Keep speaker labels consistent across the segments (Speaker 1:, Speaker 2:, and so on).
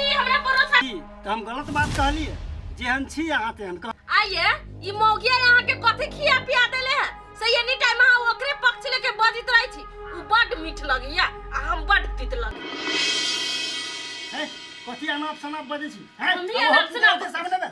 Speaker 1: हम गलत
Speaker 2: बात कहलिए जेहन छी अहाँ तेहन कह आइए
Speaker 1: ई मौगिया यहाँ के कथी खिया पिया देले है से एनी टाइम अहाँ ओकरे पक्ष लेके बजित रहै छी उ बड मीठ लगैया आ हम बड तीत लगे है
Speaker 2: कथी अनाप शनाप बजै छी हैं हमही अब हम अनाप की शनाप- करतै
Speaker 1: सामने में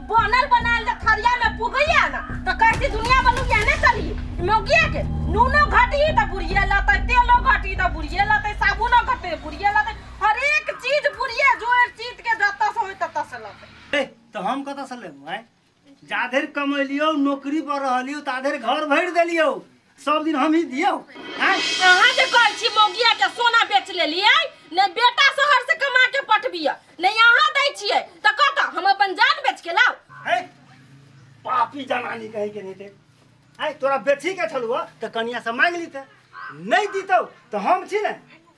Speaker 2: बनल
Speaker 1: बनायल जे थरिया में पुगैया ना तो कहती दुनिया बलू या ने चली मौगिया के नूनो घटी तो बुढ़िया लते तेलो घटी तो बुढ़िया लते साबुनो घटे बुढ़िया लते हर एक चीज बुढ़िया जोड़ चीज के जत्ता से होई तत्ता से लते ए, तो हम कतऽ
Speaker 2: से लेबू आँय जाधेर कमेलियौ नौकरी पर रहलियौ ताधेर घर भरि देलियौ सब दिन हम ही दियो आय अहाँ जे कहै
Speaker 1: छी मौगिया के सोना बेच लेलियै नहि बेटा शहर से कमा के पठबिय नहि अहाँ दै छियै तऽ कत हम अपन जान बेच के लाउ है
Speaker 2: पापी जनानी कहीं के नहीं थे आय तोरा बेची के छलुआ तो कनिया से मांग लीते नहीं दीतो तो हम छी ने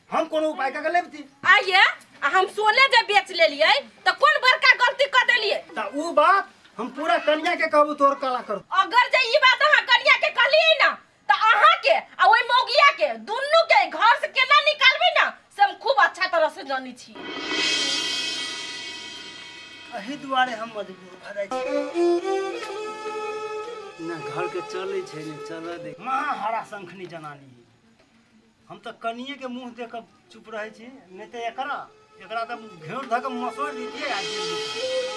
Speaker 2: हम कोनो उपाय कऽ के लेबती आइए आ हम
Speaker 1: सोने जे बेच लेलिए तो कौन बड़का गलती कर देलिए त ऊ बात
Speaker 2: हम पूरा कन्या के कहबू तोर कला कर अगर जे ई बात अहाँ
Speaker 1: कन्या के कहलिए ना तो अहाँ के आ ओई मोगिया के दुनू के घर से केना निकालबे ना से हम खूब अच्छा तरह से जानी छी अही
Speaker 2: दुआरे हम मजबूर भऽ जाइ छी ना घर के चलै छै ने चलऽ दे महाहरा शंखनी जनानी हम तऽ कनिए के मुंह देख चुप रहे छी नहीं तो एकरा एकरा तऽ घेर धक मसोड़ दीजिए आ जेल में दीजिए।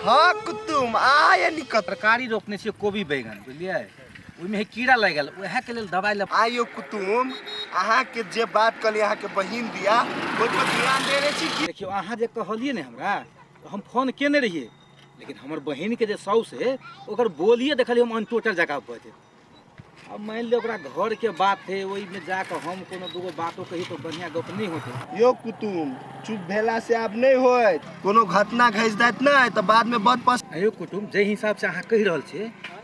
Speaker 3: हाँ कुतुम आय निकत तरकारी रोपने छियै
Speaker 4: कोबी बैगन बुझलियै ओहिमे कीड़ा लागि गेल उएहके लेल दबाइ लऽ आयो कुटुम
Speaker 3: अहाँके जे बात कहली अहाँके बहिन दिया ओहि पर ध्यान देने छी कि देखियौ अहाँ जे कहलियै
Speaker 4: ने हमरा तऽ हम फोन केने रहियै लेकिन हमर बहिनके जे साउस है ओकर बोलिए देखलियै हम अनटोटल जकाँ भऽ जेतै अब मानि लिअ ओकरा घरके बात है ओहिमे जा कऽ हम कोनो दूगो बातो कही तऽ बढ़िआँ गप नहि होतै यो कुटुम
Speaker 3: चुप भेला से आब नहि होय कोनो घटना घसि जायत नहि तऽ बाद में बद पस अयो कुटुम जाहि
Speaker 4: हिसाबसँ अहाँ कहि रहल छियै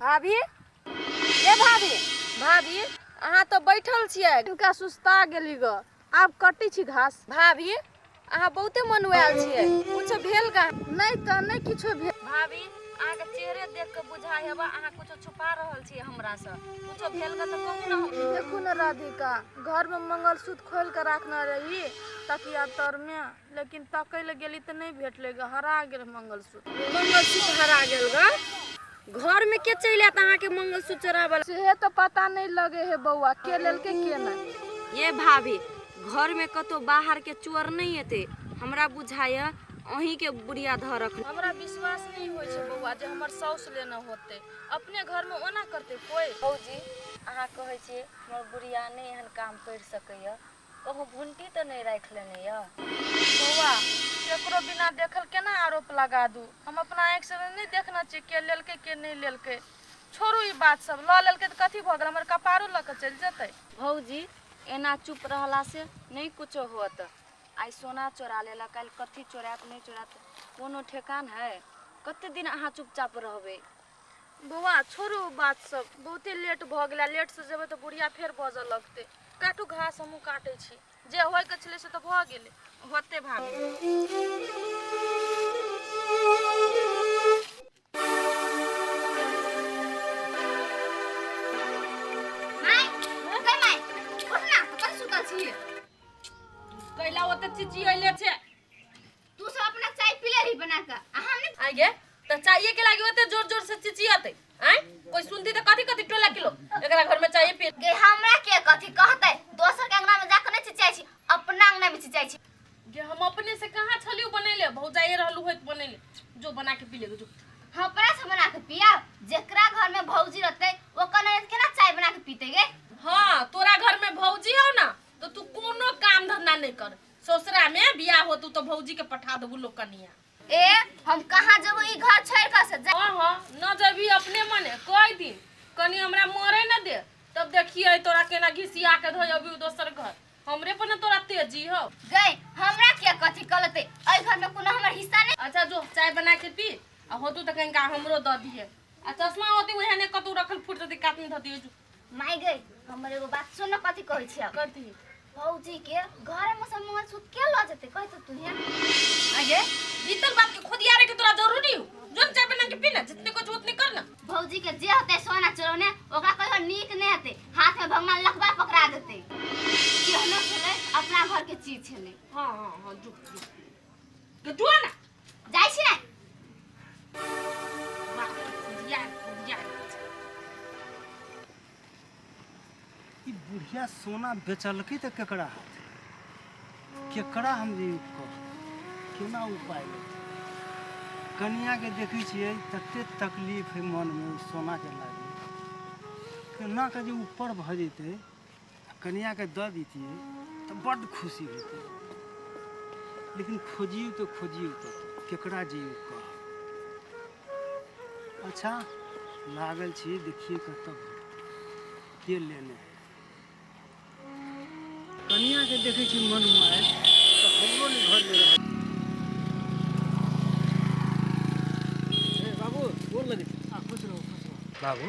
Speaker 1: भाभी ए भाभी भाभी अहाँ तऽ बैठल छियै इनका सुस्ता गेली ग आब कटै छी घास भाभी अहाँ बहुते मनुआयल छियै कुछो भेल का नहि तऽ नहि किछो भेल भाभी अहाँके चेहरे देख के बुझाइ हेबा अहाँ कुछो छुपा रहल छियै हमरा से कुछो भेल का तऽ कहू ना हम देखू ने राधिका घर में मंगलसूत्र खोल के राखने रही ताकि आब तर में लेकिन तकै लए गेली तऽ नहि भेटलै ग हरा गेल मंगलसूत्र मंगलसूत्र हरा गेल ग घर में के चलि आयत अहाँके मंगलसूत्र चोरावल सेहे तऽ पता नहि लगे हे बौआ के लेलकै के नहि ये भाभी घर में कतौ बाहर के चोर नहीं एते हमरा बुझाय अहीं के बुढ़िया धऽ रखने हमरा विश्वास नहीं होइ छै बौआ जे हमर साउस लेने होते अपने घर में ओना करते कोई भौजी अहाँ कहै छियै हमर बुढ़िया नहि एहन काम करि सकैए कहूँ घुंटी तँ नहि राखि लेने यऽ? बौआ, केकरो बिना देखल केना आरोप लगा दू? हम अपना आँखिसँ तँ नहि देखने छिऐ के लेलकै के नहि लेलकै। छोड़ू ई बात सभ। लऽ लेलकै तँ कथी भऽ गेल? हमर कपारो लऽ कऽ चलि जेतै। भौजी, एना चुप रहलासँ नहि किछो होएत। आइ सोना चोरा लेलक, काल्हि कथी चोराएत नहि चोराएत कोनो ठेकान हइ? कते दिन अहाँ चुपचाप रहबै? बौआ छोड़ू ओ बात सब बहुते लेट भऽ गेला लेट से जेबै तऽ बुढ़िया फेर बजऽ लगतै काटू घास हमहूँ काटै छी जे होइके छलै से तऽ भऽ गेलै होते भाभी माय ओकर माय उठ ना अपन सुतल छी कैला ओते चिचियले छै तू सब
Speaker 5: अपना चाय पीले रही बना के
Speaker 1: आ
Speaker 5: हम
Speaker 1: ने आइ गे त चाहिए के लागी ओते
Speaker 5: जोर
Speaker 1: जोर से
Speaker 5: चिचियाते आय
Speaker 1: कोई सुनती त कथी कथी टोला किलो एकरा घर में चाहिए पी गे हमरा के कथी
Speaker 5: कहते दोसर के अंगना में जाके नहीं चिचाई छी अपना अंगना में चिचाई छी गे हम अपने से
Speaker 1: कहाँ छलियो बनैले भौजाइए रहलू होइत बनैले जो बना के पी ले जो हम अपना से बना
Speaker 5: के पिया जेकरा घर में भौजी रहते वो कने केना चाय बना के पीते गे हाँ तोरा घर
Speaker 1: में भौजी हो ना तो तू कोनो काम धंधा नहीं कर ससुरा में बियाह होतू तो भौजी के पठा देबू लोग कनिया ए हम
Speaker 5: कहाँ जब ई घर छोड़ कर से जा- हाँ हाँ न जबी
Speaker 1: अपने मने कई दिन कनी हमरा मरे न दे तब देखिए तोरा केना घिसिया के धोय अभी दोसर घर हमरे पर न तोरा तेजी हो गए हमरा
Speaker 5: के कथी कलते ए घर में कोनो हमर हिस्सा नहीं अच्छा जो चाय बना के
Speaker 1: पी आ होतू तो कहीं का हमरो दऽ दिए आ चश्मा होती वही ने कतू रखल फूट दे काट में धऽ दिए जो माय गई
Speaker 5: हमर एगो बात सुन न कथी कहै छियै कथी भौजी
Speaker 1: के
Speaker 5: घर में सब मोहन सूत के ल जेते कहि त तू हियां आगे
Speaker 1: बीतल बात के खुदिया रे के तोरा जरूरी हो जोन चाय बना के पीना जितने कुछ उतने करना भौजी के जे होते
Speaker 5: सोना चोरौने ओकरा कहियो नीक नहीं होते हाथ में भगवान लखबा पकड़ा देते केहनो छले अपना घर के चीज छले हां हां
Speaker 1: हां जो जो जो ना जाइ
Speaker 2: छी ने ई बुढ़िया सोना बेचलकै तऽ केकरा हाथ केकरा हम जे कह केना उपाय लेतै कनियाके देखै छियै तते तकलीफ है मनमे ओ सोनाके लागल केना के जे ऊपर भऽ जेतै कनिया के दऽ दीतिए तो बड़ खुशी होती लेकिन खोजियो तो खोजियो तो केकरा जे कह अच्छा लागल छी देखिए कत के लेने कनिया के देखे छी मन मार तो हमरो ने घर
Speaker 4: में रह बाबू गोर लगे खुश रहो खुश
Speaker 2: रहो बाबू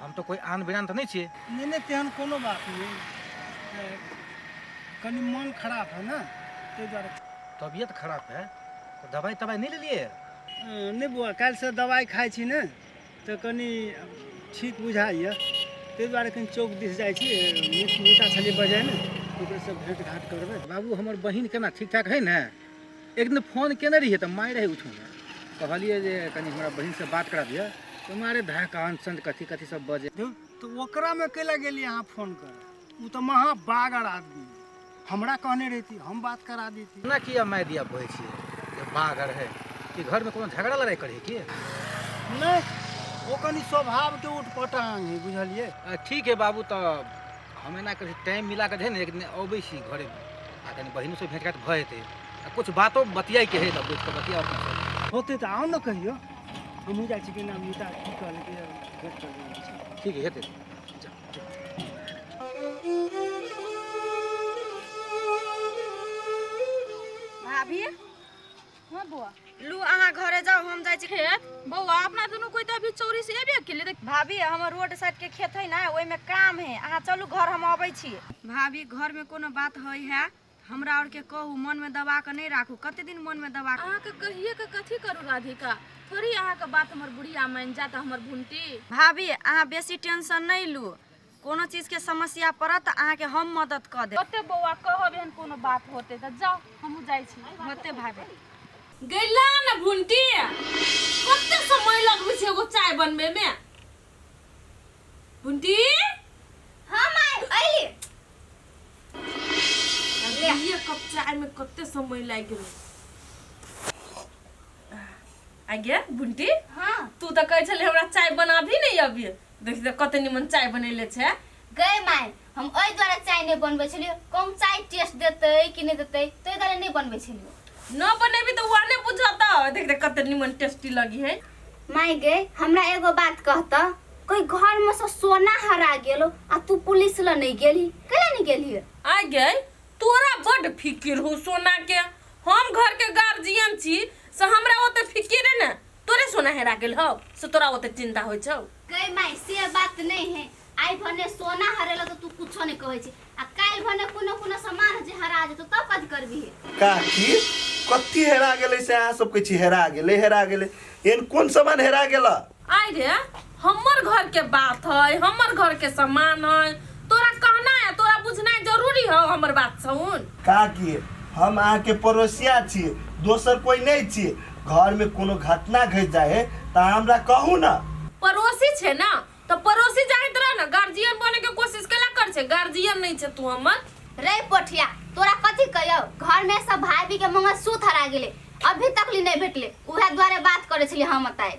Speaker 4: हम तऽ कोइ आन बिरान तऽ नहि छियै नहि नहि तेहन कोनो
Speaker 2: बात नहि ए, कनि मन खराब है ने ताहि दुआरे तबियत खराब
Speaker 4: है तऽ दवाइ तवाइ नहि लेलियै अ, नहि बौआ
Speaker 2: काल्हिसँ दवाइ खाइ छी ने तऽ कनि ठीक बुझाइए ताहि दुआरे कनि चौक दिस जाइ छी मीठा छली बजाय ने ओकरेसँ भेँट घाट करबै बाबू हमर बहिन केना
Speaker 4: ठीक ठाक है ने एक दिन फोन केने रहिए तऽ माय रहै उठौने कहलिए जे कनि हमरा बहिन से बात करा दिअ तऽ मारे भए कान संत कथी कथी सब बजे तो ओकरा में
Speaker 2: कैला गेलिए अहाँ फोन कर उ तऽ महा बागर आदमी हमरा कहने रहती हम बात करा देती ना किया माय दिया बहै
Speaker 4: छी जे बागर है कि घर में कोनो झगड़ा लड़ाई करे की नहीं
Speaker 2: ओ कनी स्वभाव के उठपटांग है बुझलिए ठीक है बाबू
Speaker 4: तऽ हम एना करै छी टाइम मिला कऽ जे ने एक दिन अबै छी घरे आ कनि बहिनोसँ भेँट घाट भऽ जेतै आ किछु बातो बतियाइके हइ तऽ बैठ कऽ बतिया होतै तऽ आउ ने कहियो
Speaker 2: हमहूँ जाइ छी कि नाम मिटा की कहलकै भेट कर ठीक हेतै भाभी
Speaker 1: हाँ बौआ लू अहाँ घरे जाओ हम जाइ छी खेत बौआ अपना दुनू कोई तऽ अभी चौरी से एबे केले देख भाभी हमर रोड साइड के खेत है ना ओहिमे काम है अहाँ चलू घर हम अबै छी भाभी घर में कोनो बात है है हमरा और के कहू मन में दबा के नहीं राखू कते दिन मन में दबा के अहाँ के कहिए के कथी करू राधिका थोड़ी अहाँ के बात हमर बुढ़िया मान जात हमर भुंटी भाभी अहाँ बेसी टेंशन नहीं लू कोनो चीज के समस्या पड़त तऽ अहाँ के हम मदद क देब ओते बौआ कहब एहन कोनो बात होते तऽ जाओ हमहू जाइ छी होते भाभी गैला न भुंटी कते समय लगबै छै एगो चाय बनबै मे भुंटी हां
Speaker 5: माय अइली
Speaker 1: ये कप चाय में कते समय लागि गेलै आगे भुंटी हां तू तऽ
Speaker 5: कहै छले हमरा
Speaker 1: चाय बनाभी नै अभी देख दे कते निमन चाय बनैले छै गए माय
Speaker 5: हम ओहि द्वारा चाय नहि बनबै छलियै कम चाय टेस्ट देतै कि नहि देतै ताहि द्वारा नहि बनबै छलियै न बनेबी तऽ
Speaker 1: वहाँ नहि बुझत देख दे कते निमन टेस्टी लगी है माय गए
Speaker 5: हमरा एगो बात कहत कोई घर में से सोना हरा गेलो आ तू पुलिस ल नहीं गेली कैला नहीं गेली आ गए
Speaker 1: तोरा बड फिकिर हो सोना के हम घर के गार्जियन छी से हमरा ओते फिकिर है ना तोरे सोना हेरा गेल हौ से तोरा ओते चिंता होइ छौ गई माई से
Speaker 5: बात नहीं है आई भने सोना हरेला तो तू कुछो नहीं कहै छी आ काल भने कोनो कोनो सामान जे हरा जेतो
Speaker 3: तब
Speaker 5: कद करबी काकी कथी
Speaker 3: हेरा गेलै से अहाँ सब कहै छी हेरा गेलै हेरा गेलै एहन कोन सामान हेरा गेला आइ रे
Speaker 1: हमर घर के बात है हमर घर के सम्मान है तोरा कहना है तोरा बुझना जरूरी है हमर बात सुन का कि
Speaker 3: हम अहाँ के पड़ोसिया छी दोसर कोई नहीं छी घर में कोनो घटना घट जाए है तो हमरा कहू ना पड़ोसी छे
Speaker 1: ना तो पड़ोसी जाइत रह ना गार्जियन बने के कोशिश केला कर छे गार्जियन नहीं छे तू हमर रे पोठिया
Speaker 5: तोरा कथी कहियो घर में सब भाभी के मंगल सूत्र हरा गेले अभी तक ली नहीं भेटले उहे द्वारे बात करे छली हम बताए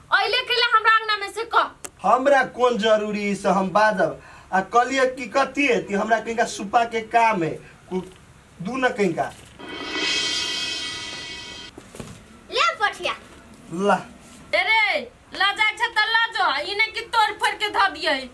Speaker 1: अइले के लिए हमरा अंगना में से कह हमरा कौन
Speaker 3: जरूरी है से हम बाजब आ कलिए की कथी है ती हमरा कहीं का सुपा के काम है कु- दू न कहीं का
Speaker 5: ले पठिया ला
Speaker 3: अरे
Speaker 1: लजा छ त लजो इने की तोड़ फोड़ के ध दिए